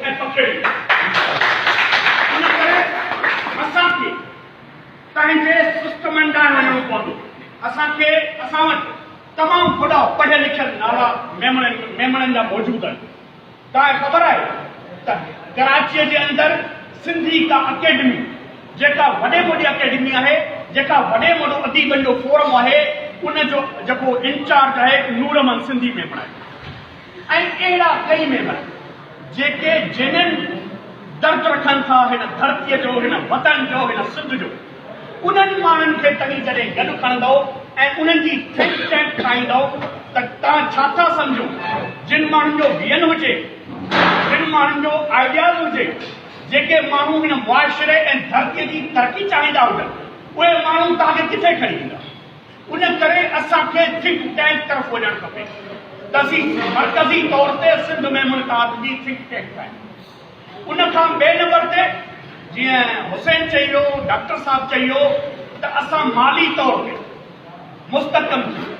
۽ پکڙي ان ڪري اسان کي پنهنجي سسٽمن ڏانهن وڃڻو پوندو اسان کي اسان وٽ تمام وڏا پڙهيل لکيل نالا ميمڻن ميمڻن جا موجود آهن تانء خبر آهي ته ڪراچيء جي اندر سنڌي ڪا اڪيڊمي جيڪا وڏي موڏي اڪيڊمي آهي جيڪا وڏي موڏو اديبن جو فورم آهي ان جو جيڪو انچارج آهي نورمن سنڌي ميمڻ آهي ۽ اهڙا ڪئي ميمبر جيڪي جينين درد رکن ٿا هن ڌرتي جو هن وطن جو هن سنڌ جو انهن ماڻهن کي تنهن جڏهن گڏ کڻندؤ ۽ انهن جي ٿنڪ ٽينڪ ٺاهيندؤ ته توهان ڇا ٿا سمجهو جن ماڻهن جو ويئن هجي جن ماڻهن جو آئيڊياز هجي جيڪي ماڻهو هن معاشري ۽ ڌرتي جي ترقي چاهيندا هجن اهي ماڻهو توهان کي ڪٿي کڻي ايندا. ان ڪري اسان کي ٿنڪ ٽينڪ طرف وڃڻ کپي. تزي مرڪزي طور تي سنڌ ۾ منقاد جي ٿنڪ ٽينڪ آهي. ان کان ٻئي نمبر تي جيئن حسين چئي ويو، ڊاڪٽر صاحب چئي ويو ته اسان مالي طور تي مستحڪم ٿيون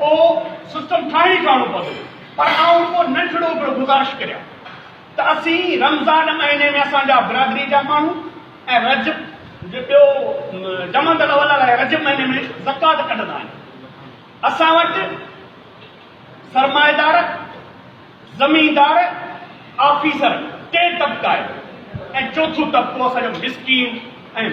اهو سسٽم ٺاهڻ ئي ٺاهڻو پوندو پر آئون ڪو ننڍڙو به گذارش ڪريان ته اسين رمضان مهيني ۾ اسان جا برادري جا ماڻهو ۽ رجب جو ٻيو جمادي الاول ۽ رجب مهيني ۾ زڪوات ڪڍندا آهن اسان وٽ سرمائيدار زميندار آفيسر ٽي طبقا آهن ۽ چوٿون طبقو اسان جو مسڪين ۽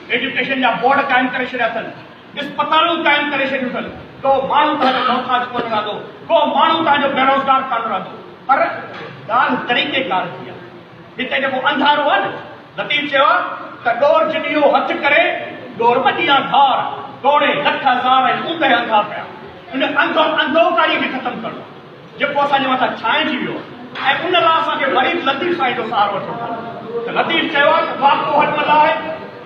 ايجوڪيشن جا بورڊ قائم ڪري ڇڏيا اٿن، اسپتالون قائم ڪري ڇڏيون اٿن، ڪو ماڻهو توهان جو محتاج ڪونه رهندو، ڪو ماڻهو توهان جو بيروزگار ڪانه رهندو. پر ڳالهه طريقي ڪار جي آهي. هتي جيڪو انڌارو آهي نه، لطيف چيو آهي ته ڏور جڏيو هٿ ڪري، ڏور ٻڏيان ڌار، ڊوڙي لک هزار ۽ اوندهه انڌا پيا. ان انڌو انڌوڪاري کي ختم ڪرڻو آهي. جيڪو اسان جي مٿان ڇانئجي ويو آهي ۽ ان لاء اسان کي مريد لطيف سائين جو سهارو وٺڻو پوندو ته لطيف چيو آهي ته واڪو هٽ ملا آهي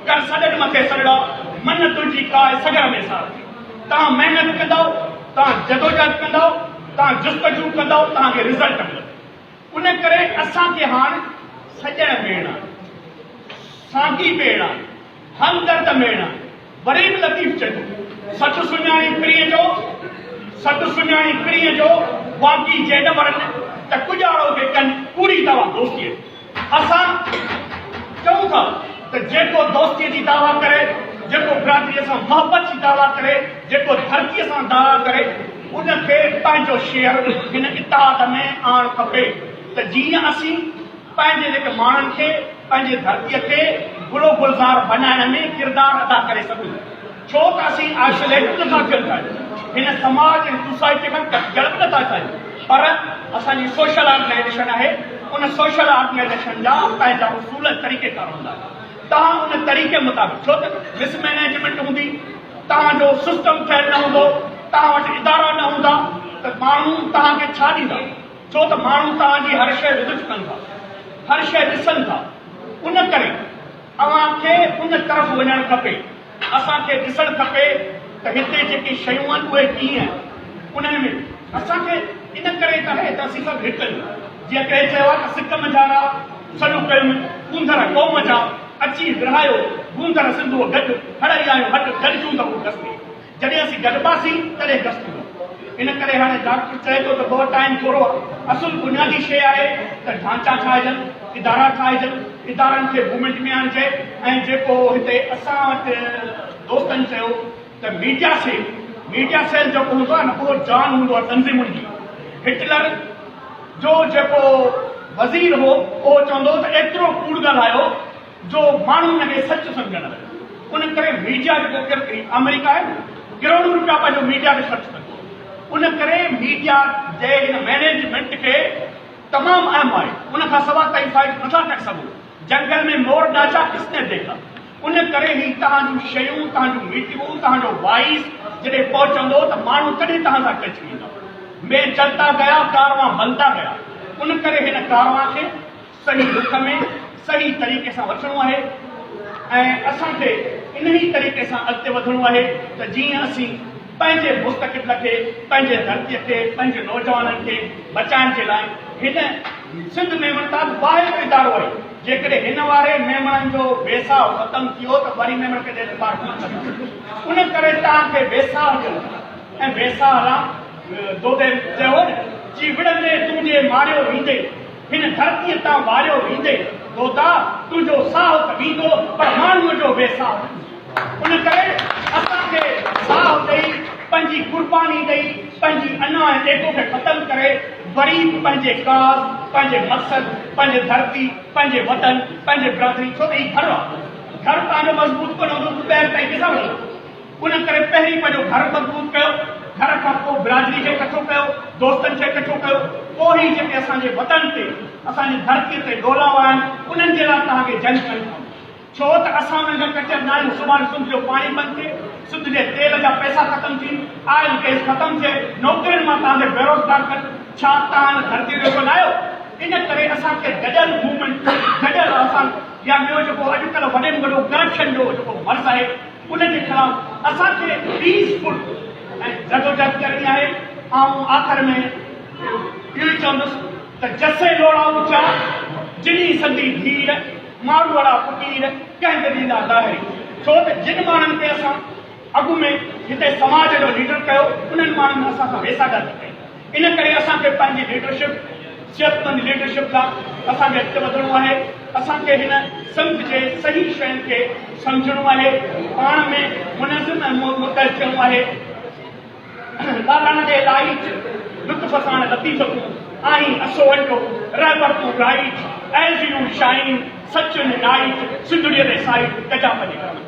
ڪر سڏن مٿي سڏڙا من تنهنجي ڪاء سگهر ۾ سار ٿي توهان محنت ڪندؤ توهان جدوجهد ڪندؤ توهان جستجو ڪندؤ توهان کي رزلٽ ملندو ان ڪري اسان کي هاڻ سڄڻ ميڙڻا آهن ساٿي ميڙڻا آهن همدرد ميڙڻا آهن غريب لطيف چيو سچ سڃاڻي پرينء جو، سچ سڃاڻي پرينء جو، واقعي جي نه مرن ته ڪڄاڙو کي ڪن ڪوڙي دعويٰ دوستيء جي. اسان چئون ٿا ته جيڪو دوستيء جي دعويٰ ڪري، جيڪو برادريء سان محبت جي دعويٰ ڪري، جيڪو ڌرتيء سان دعويٰ ڪري، ان کي پنهنجو شعر هن اطاعت ۾ آڻ کپي ته جيئن اسين پنهنجي لک ماڻهن کي پنهنجي ڌرتيء کي گل و گلزار بنائڻ ۾ ڪردار ادا ڪري سگهون، ڇو ته اسين آئسوليٽ به نٿا ٿيڻ چاهيون، هن سماج ۽ سوسائٽيء کان ڪٽجڻ به نٿا چاهيون، پر اسان جي سوشل آرگنائيزيشن آهي، ان سوشل آرگنائيزيشن جا پنهنجا اصول ۽ طريقيڪار هوندا، توهان ان طريقي مطابق ڇو ته مس مينيجمينٽ هوندي، توهان جو سسٽم ٺهيل نه هوندو، توهان وٽ ادارا نه هوندا ته ماڻهو توهان کي ڇا ڏيندا؟ ڇو ته ماڻهو توهان جي هر شيء لطف ڪن ٿا، هر شيء ڏسن ٿا، ان ڪري اوهان کي ان طرف وڃڻ کپي. اسان کي ڏسڻ کپي ته هتي جيڪي شيون آهن اهي ڪيئن آهن، انهن ۾ اسان کي ان ڪري ته آهي ته اسين سڀ هڪ آهيون. جيئن ڪنهن چيو آهي ته سڪ منجهان را سڏ ڪيم، ڪونڌر قوم جا، اچي ورهايو گونڌر سنڌوء گڏ، هڙئي آيون هٽ، گڏجون ته هو گستي. جڏهن اسين گڏباسين تڏهن گس ٿيندو. ان ڪري هاڻي ڊاڪٽر چئي ٿو ته بوء ٽائيم ٿورو آهي. اصل بنيادي شيء آهي ته ڍانچا ٺاهجن، ادارا ٺاهجن، ادارن کي موومينٽ ۾ آڻجي ۽ جيڪو هتي اسان وٽ دوستن چيو ته ميڊيا سيل، ميڊيا سيل جيڪو هوندو آهي نه اهو جان هوندو آهي تنظيمن جي. هٽلر جو جيڪو وزير هو اهو چوندو هو ته ايترو ڪوڙ ڳالهايو، جو ماڻهو ان کي سچ سمجهڻ لڳا ان ڪري ميڊيا جيڪو آمريڪا آهي نه ڪروڙون روپيا پنهنجو ميڊيا تي خرچ ڪندو ان ڪري ميڊيا جي هن مينيجمينٽ کي تمام اهم آهي ان کان سواء تائين فائدو نٿا ڪري سگهو جنگل ۾ مور ڊاچا ڪس نه ديکا ان ڪري هي تهان جون شيون تهان جون ميٽنگون تهان جو وائس جڏهن پهچندو ته ماڻهو تڏهن تهان سان ٽچ ويندا مي چلتا گيا ڪاروان بنتا گيا ان ڪري هن ڪاروان کي صحيح رخ ۾ صحيح طريقي سان وٺڻو آهي ۽ اسان کي انهيء طريقي سان اڳتي وڌڻو آهي ته جيئن اسين پنهنجي مستقبل کي، پنهنجي ڌرتيء کي، پنهنجي نوجوانن کي بچائڻ جي لاء هن سنڌ ميمڻ تان واحد ادارو آهي، جيڪڏهن هن واري ميمڻن جو ويساهه ختم ٿيو ته وري ميمڻ ڪجهه اعتبار ڪونه ڪندو. ان ڪري توهان کي ويساهه جو ۽ ويساهه رام دودي چيو هو نه. جي وڙهندي تون جي ماڙيو ويندي. هن ڌرتيء تان واريو ويندي گودا تنهنجو ساهه ته ويندو پر ماڻهوء جو بي ساهه نه ويندو. ان ڪري اسان کي ساهه ڏئي، پنهنجي قرباني ڏئي، پنهنجي انا ۽ ايگو کي ختم ڪري وري به پنهنجي ڪاز، پنهنجي مقصد، پنهنجي ڌرتي، پنهنجي وطن، پنهنجي برادري ڇو ته هي گهر آهي. گهر تنهنجو مضبوط ڪونه هوندو ته ٻير تائين ڪيڏانهن وڃندو. ان ڪري پهرين پنهنجو گهر مضبوط ڪيو، گهر کان پوء برادري کي ڪٺو ڪيو، دوستن کي ڪٺو ڪيو، پوء ئي جيڪي اسان جي وطن تي، اسان جي ڌرتيء تي ڏولاوا آهن، انهن جي لاء توهان کي جنگ ڪرڻي پوندي. ڇو ته اسان انهن کان ڪچر ناهيون، سڀاڻي سنڌ جو پاڻي بند ٿئي، سنڌ جي تيل جا پئسا ختم ٿين، آئل گئس ختم ٿئي، نوڪرين مان توهان کي بيروزگار ڪن، ڇا توهان ان ڌرتيء جو ڪو نه آهيو؟ ان ڪري اسان کي گڏيل موومينٽ، گڏيل آسان يا ٻيو جيڪو اڄڪلهه وڏي ۾ وڏو ڪرپشن جو جيڪو مرض آهي، ان جي خلاف اسان کي پيس فل ۽ جدوجهد ڪرڻي آهي. آئون آخر ۾ اهو ئي چوندس ته جسي لوڙائو چار، جني سندي ڌير، ماروئڙا فقير ڪنهن به ڏيندا لاهري. ڇو ته جن ماڻهن کي اسان اڳ ۾ هتي سماج جو ليڊر ڪيو، انهن ماڻهن اسان سان ويساهه ڳالهه ڪئي. ان ڪري اسان کي پنهنجي ليڊرشپ، صحتمند ليڊرشپ لا اسان کي اڳتي وڌڻو آهي، اسان کي هن سمت جي صحيح شين کي سمجهڻو آهي، پاڻ ۾ منظم ۽ متحد ٿيڻو آهي، لاڏاڻا جي لائچ لطف ساڻ لطيف تون آهين اسو اٽو، رهبر تون رائچ، As you shine سچ ۽ نائچ، سنڌڙيء ري سائچ، گجا پنهنجي گرمن.